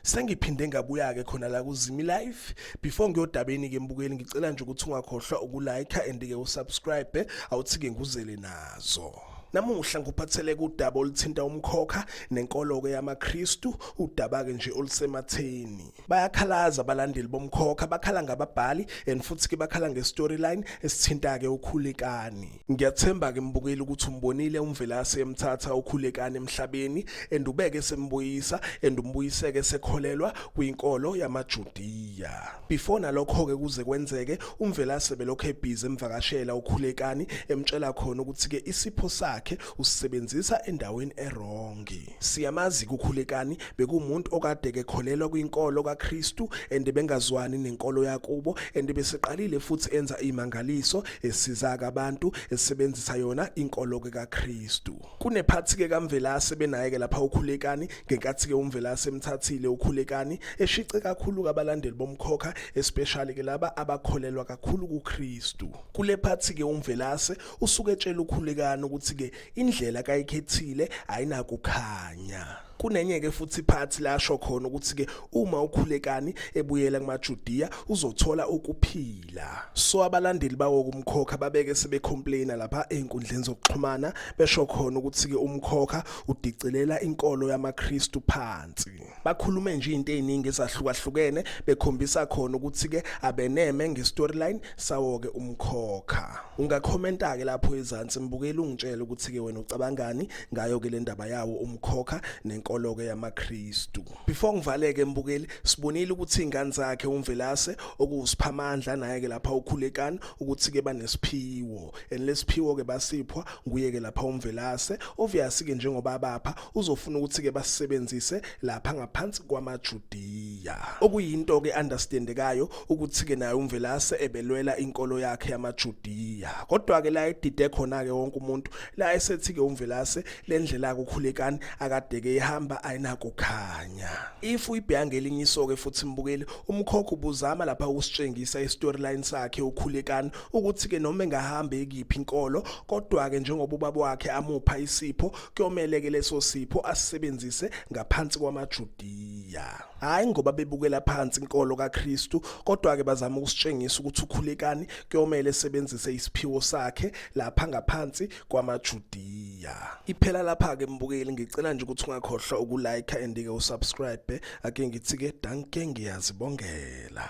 sengiphinde ngabuya-ke khona la kuzimi life before ngiyodabeni ke mbukeli ngicela nje ukuthi ungakhohlwa ukulike and-ke usubscribe awuthi-ke nguzele nazo namuhla ngikuphathele kudaba oluthinta umkhokha nenkolo-ke yamakristu udaba-ke nje olusematheni bayakhalaza abalandeli bomkhokha bakhala ngababhali and futhi-ke bakhala nge-storyline esithinta-ke ukhulekani Ngiyathemba ke mbukeli ukuthi umbonile uMvelase emthatha ukhulekani emhlabeni and ubeke sembuyisa and umbuyiseke sekholelwa kwinkolo yamaJudiya. Before nalokho ke kuze kwenzeke uMvelase belokho ebhizi emvakashela ukhulekani emtshela khona ukuthi ke isipho sakhe usisebenzisa endaweni erongi. Siyamazi kukhulekani bekumuntu okade kekholelwa kwinkolo kaKristu and bengazwani nenkolo yakubo and beseqalile futhi enza imangaliso esiza abantu esebenzisa yona inkolo ke kaKristu. Kunephathi ke kaMvelase benaye ke lapha ukhulekani ngenkathi ke uMvelase emthathile ukhulekani eshice kakhulu kabalandeli bomkhokha especially ke laba abakholelwa kakhulu kuKristu. Kule phathi ke uMvelase usuke etshela ukhulekani ukuthi ke indlela kayikhethile ayinakukhanya kunenye-ke futhi phathi lasho khona ukuthi-ke uma ukhulekani ebuyela kumajudiya uzothola ukuphila so abalandeli bawo kumkhokha babeke sebecomplaina lapha ey'nkundleni zokuxhumana besho khona ukuthi-ke umkhokha udicelela inkolo yamakristu phansi bakhulume nje into eziningi ezahlukahlukene bekhombisa khona ukuthi ke abeneme ngestoryline sawo ke umkhokha ungakhomenta ke lapho ezansi mbukeli ungitshela ukuthi ke wena ucabangani ngayo ke le ndaba yawo umkhokha nenkolo ke yamaKristu before ngivaleke mbukeli sibonile ukuthi ingane zakhe umvelase okuwusiphamandla naye ke lapha ukhulekani ukuthi ke banesiphiwo and lesiphiwo ke basiphwa nguye ke lapha umvelase obvious ke njengoba bapha uzofuna ukuthi-ke basisebenzise lapha ngaphansi kwamajudiya okuyinto-ke understandekayo ukuthi-ke naye umvelase ebelwela inkolo yakhe yamajudiya kodwa-ke la edide khona-ke wonke umuntu la esethi-ke umvelase le ndlela akukhulekani akadeke ihamba ayinakukhanya if uyibheka ngelinye iso-ke futhi mbukeli umkhokho ubuzama lapha ukusitshengisa i-storyline sakhe ukhulekani ukuthi-ke noma engahamba ekiphi inkolo kodwa-ke njengoba ubaba wakhe amupha isipho kuyomele ke leso sipho asisebenzise ngaphansi kwamaJudiya hayi ngoba bebukela phansi inkolo kaKristu kodwa ke bazama ukusitshengisa ukuthi ukhulekani kuyomele sebenzise isiphiwo sakhe lapha ngaphansi kwamaJudiya iphela lapha ke mbukeli ngicela nje ukuthi ungakhohlwa ukulike and ke usubscribe ake ngithi ke danke ngiyazibongela